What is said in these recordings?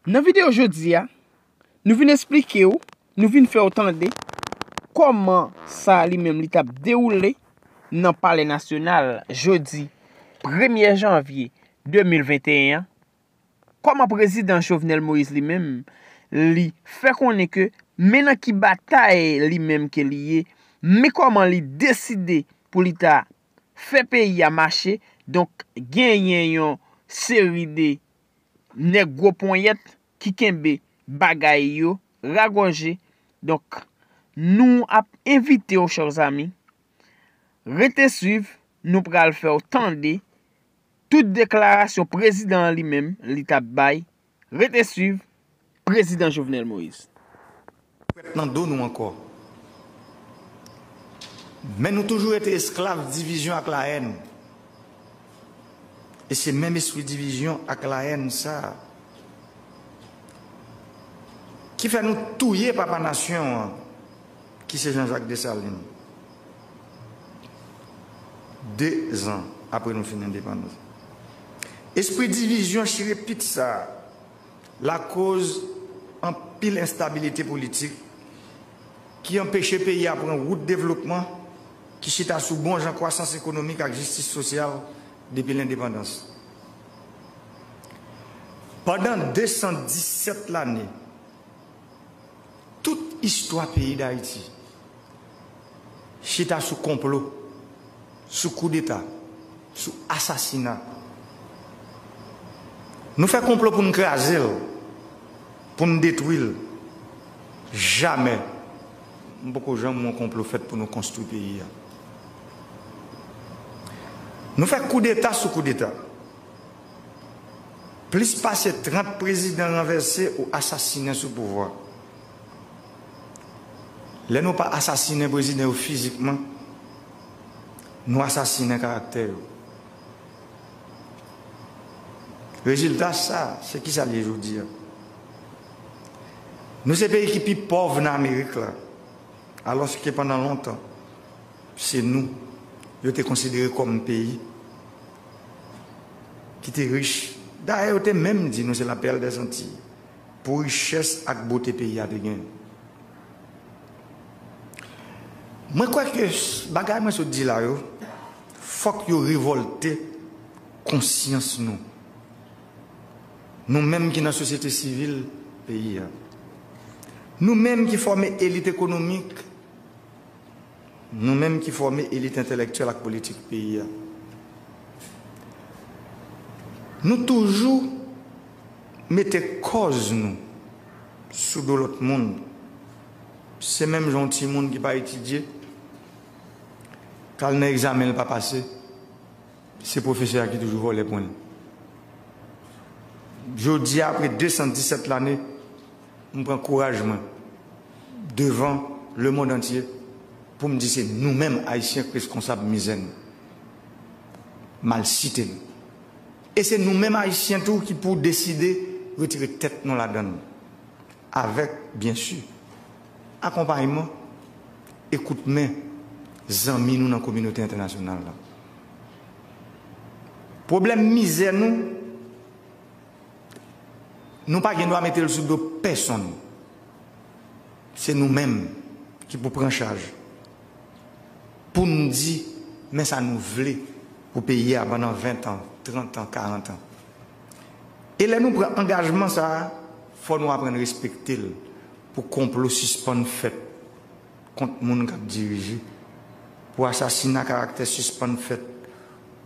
Nan video jodi a, nou vin esplike ou, nou vin fè ou tande kòman sa li menm li tap dewoule nan palè nasyonal jodi premye janvye 2021 an, kòman prezidan Jovenel Moïse li menm li fè konnen ke men nan ki batay li menm ke li ye, men kòman li deside pou li ta fè peyi a mache, donk genyen yon seri de nèg gwo ponyèt ki kenbe bagay yo ragòje, donk nou ap envite w chers amis, rete swiv, nou pral fè w tande tout deklarasyon prezidan an li menm li t ap bay Rete swiv prezidan Jovenel Moïse. Kwèt nan do nou ankò. Men nou toujou rete esklav divizyon ak lahèn. E se menm espri divizyon ak lahèn sa a ki fè nou touye papa nasyon an Ki se Jean-Jacques Dessalines. De zan apre nou fin endepandans. Espri divizyon chire pit sa a lakoz anpil enstabilite politik ki anpeche peyi a pran wout devlopman ki chita sou bon jan kwasans ekonomik ak jistis sosyal depi lendepandans. Pandan 217 lane. Tout istwa peyi Dayiti chita sou konplo, sou koudeta, sou asasina. Nou fè konplo pou n kraze l, pou n detwi l. Jamè m poko janm wè yon konplo fèt pou nou konstwi peyi a. Nou fè koudeta sou koudeta. Plis pase 30 prezidan ranvèse ou asasinen sou pouvwa. Lè nou pa asasinen prezidan yo fizikman, nou asasinen karaktè yo. Rezilta sa, se kisa l ye jodi a? Nou se peyi ki pi pòv nan Amerik la, alòske pandan lontan, Se nou yo te konsidere kòm peyi ki te rich. Dayè yo te menm di nou se la perle des Antilles pou richès ak bote peyi a te genyen. Mwen kwè ke bagay mwen sot di la yo, fòk yo revòlte konsyans nou, nou menm ki nan sosyete sivil peyi a, nou menm ki fòme elit ekonomik, Nou menm ki fòme elit entèlèktyèl ak politik peyi a, nou toujou mete kòz nou sou do lòt moun. Se menm jan yon timoun ki pa etidye, k al nan egzamen l pa pase, se pwofesè a ki toujou vòlè pwen l. Jodi a, apre 217 lane, M pran kouraj mwen devan lemond antye pou m di se nou menm Ayisyen k reskonsab mizè nou, malsite nou. E se nou menm Ayisyen tou ki pou deside retire tèt nou ladan l, avèk, byen si, akonpayman e kout men zanmi nou nan kominote entènasyonal la. Pwoblèm mizè nou. Nou pa gen dwa mete l sou do pèsonn. Se nou menm ki pou pran chaj pou n di men sa nou vle pou peyi a pandan ventan, trantan, karantan. E lè nou pran angajman sa a, fò nou aprann respekte l pou konplo sispann fèt kont moun k ap dirije, pou asasina karaktè sispann fèt,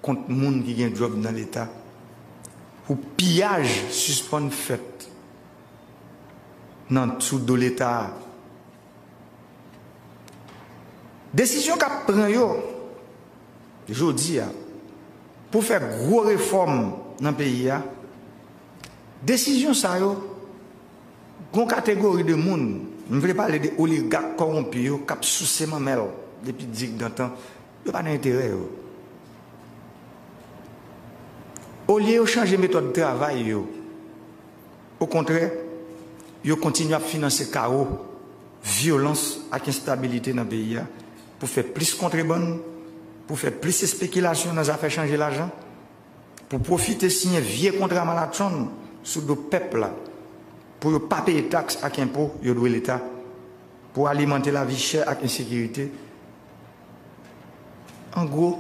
kont moun ki gen djòb nan leta pou piyaj sispann fèt nan sou do leta a. Desizyon k ap pran yo jodi a pou fè gwo refòm nan peyi a, desizyon sa yo gon kategori de moun, m vle pale de oligak kowonpi yo k ap souse manmèl depi digdantan, Yo pa nan enterè yo. Olye yo chanje metòd travay yo, okontrè, yo kontinye ap finanse kawo, vyolans ak enstabilite nan peyi a pou fè plis kontrebann, pou fè plis espekilasyon nan zafè chanje lajan, pou pwofite siyen vye kontra malatchonn sou do pèp la pou yo pa peye taks ak enpo yo dwe Leta, pou alimante lavi chè ak ensekirite An gwo,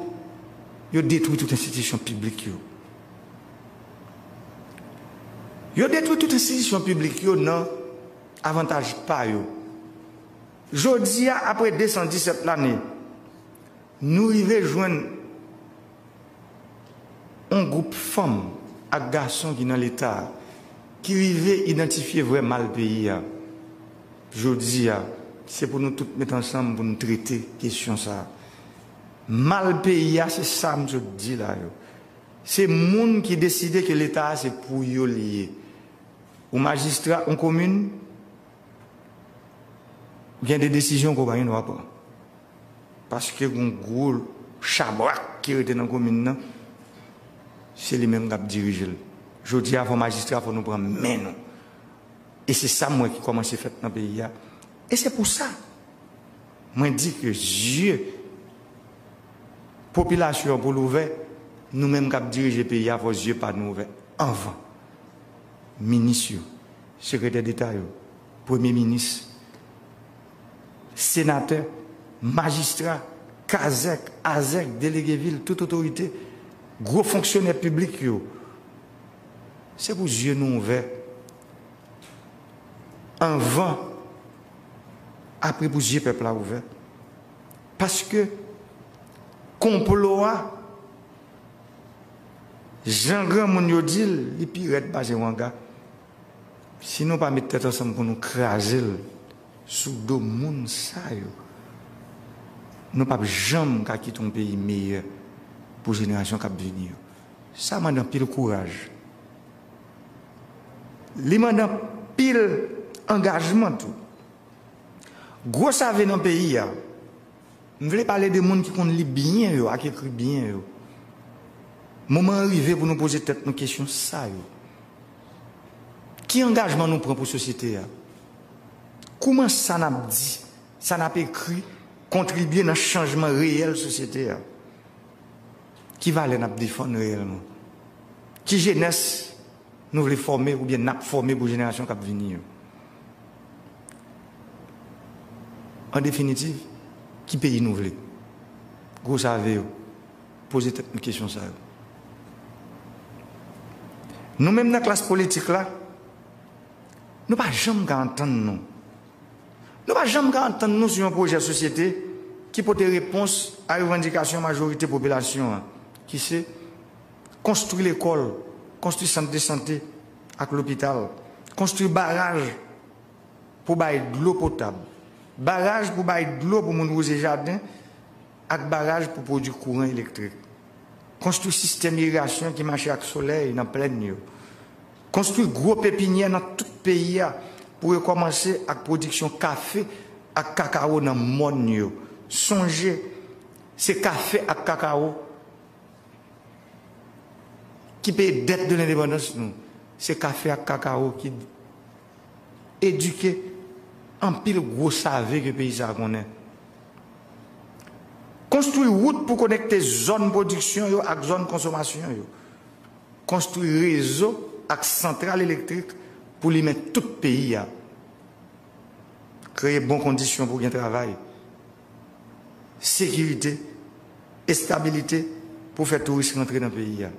yo detwi tout enstitisyon piblik yo. Yo detwi tout enstitisyon piblik yo nan avantaj pa yo. Jodi a, apre 217 lane, nou rive jwenn yon gwoup fanm ak gason ki nan Leta a ki rive idantifye vrè mal peyi a. Jodi a, se pou nou tout met ansanm pou nou trete kesyon sa a. Mal peyi a se sa m sot di la yo. Se moun ki deside ke Leta a se pou yo li ye. Ou majistra yon komin, gen de desizyon ke w pa gen dwa pran. Paske gen yon gwo chabrak ki rete nan komin nan, se li menm k ap dirije l. Jodi a, fò majistra fò nou pran men nou. E se sa mwen ki kòmanse fèt nan peyi a. E se pou sa mwen di ke zye popilasyon an pou l ouvè, nou menm k ap dirije peyi a fò zye pa nou ouvè anvan. Minis yo, sekretè deta yo, premye minis, senatè, majistra, kazèk, azèk, delege vil, tout otorite, gwo fonksyonè piblik yo, se pou zye nou ouvè anvan apre pou zye pèp la ouvè paske konplo a jan granmoun yo dil li pi rèd pase wanga si nou pa met tèt ansanm pou nou krazel sou do moun sa yo nou pap janm ka kite yon peyi meyè pou jenerasyon kap vini yo. Sa mande anpil kouraj. Li mande anpil angajman tou. Gwo save nan peyi a, m vle pale de moun ki konn li byen yo ak ekri byen yo. Moman an rive pou nou poze tèt nou kesyon sa yo, Ki angajman nou pran pou sosyete a? Kouman sa n ap di, sa n ap ekri kontribye nan chanjman reyèl sosyete a? Ki valè n ap defann reyèlman? Ki jenès nou vle fòme oubyen n ap fòme pou jenerasyon k ap vini yo? An definitiv, ki peyi nou vle? Gwo save yo, poze tèt nou kesyon sa yo. Nou menm nan klas politik la, nou pa janm ka antann nou. Nou pa janm ka antann nou sou yon pwojè sosyete ki pote repons a revandikasyon majorite popilasyon an, ki se, konstwi lekòl, konstwi sant de sante ak lopital, konstwi baraj pou bay dlo potab, baraj pou bay dlo pou moun wouze jaden ak baraj pou pwodwi kouran elektrik, konstwi sistèm irigasyon ki mache ak solèy nan plèn yo. Konstwi gwo pepinyè nan tout peyi a pou yo kòmanse ak pwodiksyon kafe ak kakawo nan mòn yo. Sonje, se kafe ak kakawo ki peye dèt de lendepandans nou. Se kafe ak kakawo ki edike anpil gwo save ke peyi sa a konnen. Konstwi wout pou konekte zòn pwodiksyon yo ak zòn konsomasyon yo. Konstwi rezo ak santral elektrik pou limen tout peyi a. Kreye bon kondisyon pou gen travay, sekirite, estabilite pou fè touris rantre nan peyi a.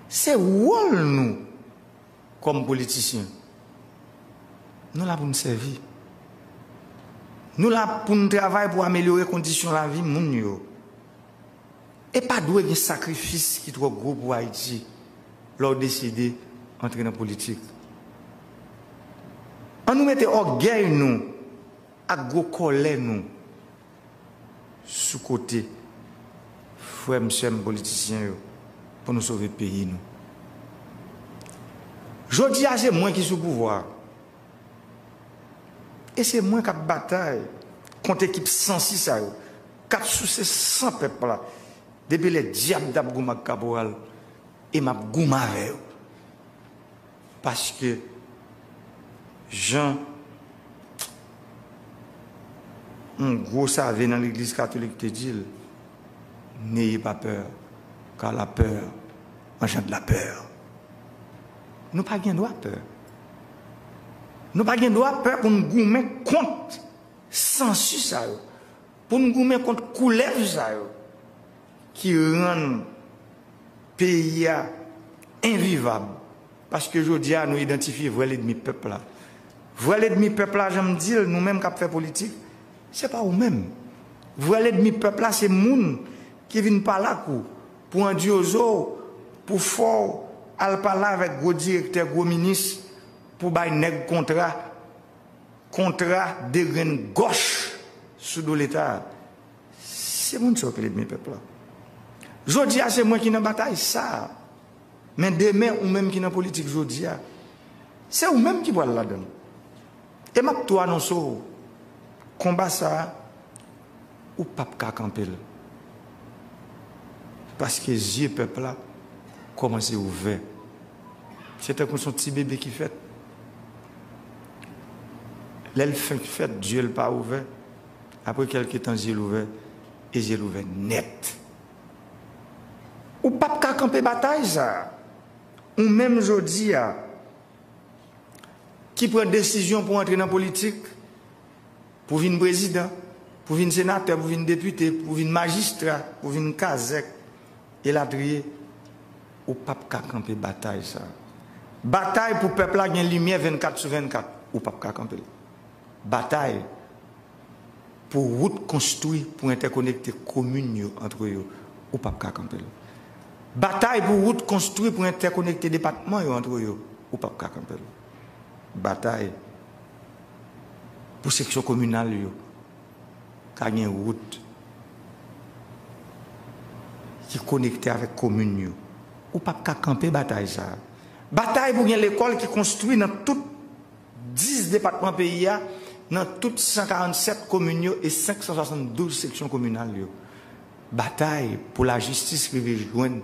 Se wòl nou kòm politisyen. Nou la pou n sèvi. Nou la pou n travay pou amelyore kondisyon lavi moun yo. E pa dwe gen sakrifis ki twò gwo pou Ayiti lè w deside antre nan politik. An nou mete ògèy nou ak gwo kòlè nou sou kote frè m sè m politisyen yo pou nou sove peyi nou. Jodi a se mwen ki sou pouvwa a e se mwen k ap batay kont ekip sansi sa yo. Kap souse san pèp la depi lè dyab tap goumen ak kaporal e map goumen avè yo paske jan yon gwo save nan legliz katolik te dil neye pa peur car la peur engendre la peur nou pa gen dwa peur nou pa gen dwa peur pou nou goumen kont sansu sa yo. Pou n goumen kont koulèv sa yo ki rann peyi a envivab. Paske jodi a nou idantifye vrè ledmi pèp la. Vrè ledmi pèp la jan m di l, nou menm k ap fè politik, se pa ou menm. Vrè ledmi pèp la se moun ki vin pale ak ou pou andyozo w, pou fè w al pale avèk gwo direktè, gwo minis pou bay nèg kontra. Kontra de grenn gòch sou do leta a. Se moun sa yo ki ledmi pèp la. Jodi a se mwen ki nan batay sa a. Men demen ou menm ki nan politik jodi a. Se ou menm ki pral ladan l. E map tou anonse w konba sa a ou pap ka kanpe l. Paske zye pèp la kòmanse ouvè. Se tankou son ti bebe ki fèt. Lè l fenk fèt, zye l pa ouvè. Apre kèlke tan zye l ouvè, e zye l ouvè nèt. Ou pap ka kanpe batay sa a. Ou menm jodi a, ki pran desizyon pou antre nan politik, pou vin prezidan, pou vin senatè, pou vin depite, pou vin majistra, pou vin kazèk. Elatriye, ou pap ka kanpe batay sa. Batay pou pèp la gen limyè 24 sou 24, ou pap ka kanpe l. Batay pou wout konstwi pou entèkonekte komin yo antre yo, ou pap ka kanpe l. Batay pou wout konstwi pou entèkonekte depatman yo antre yo, ou pap ka kanpe l. Batay pou seksyon kominal yo, Ta gen wout ki konekte avèk komin yo. Ou pap ka kanpe batay sa a. Batay pou gen lekòl ki konstwi nan tout 10 depatman peyi a, nan tout 147 komin yo e 572 seksyon kominal yo. Batay pou lajistis rive jwenn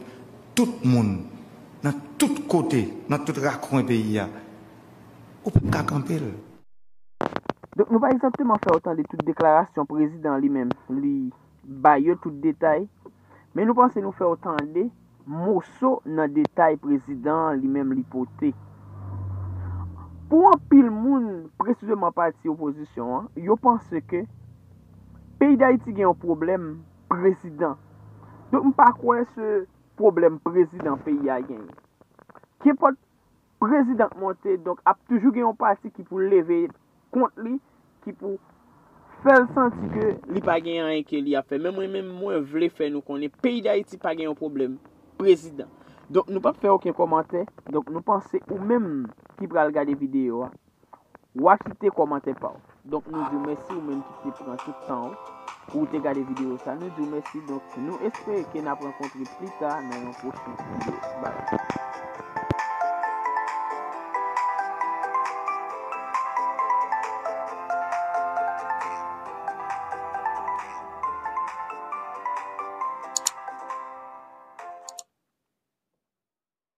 tout moun, nan tout kote, nan tout rakwen peyi a. Ou pap ka kanpe l. Donk nou pa egzakteman fè yo tande tout deklarasyon prezidan an li menm li bay yo tout detay, men nou panse nou fè yo tande moso nan detay prezidan an li menm li pote. Pou anpil moun, presizeman pati opozisyon an, yo panse ke peyi Dayiti gen yon pwoblèm prezidan. Donk m pa kwè se pwoblèm prezidan peyi a genyen. Kenpòt. Prezidan k monte, donk ap toujou gen yon pati ki pou leve kont li, ki pou fè l santi ke li pa gen anyen ke li ap fè. Men mwen menm, mwen vle fè nou konnen peyi Dayiti pa gen yon pwoblèm prezidan. Donk nou p ap fè oken kòmantè, donk nou panse ou menm ki pral gade videyo a, Wa kite kòmantè pa w. Donk nou di w mèsi ou menm ki te pran tout tan w pou w te gade videyo sa. Nou di w mèsi donk nou espere ke n ap rankontre pli ta nan yon pwochen videyo. Bye!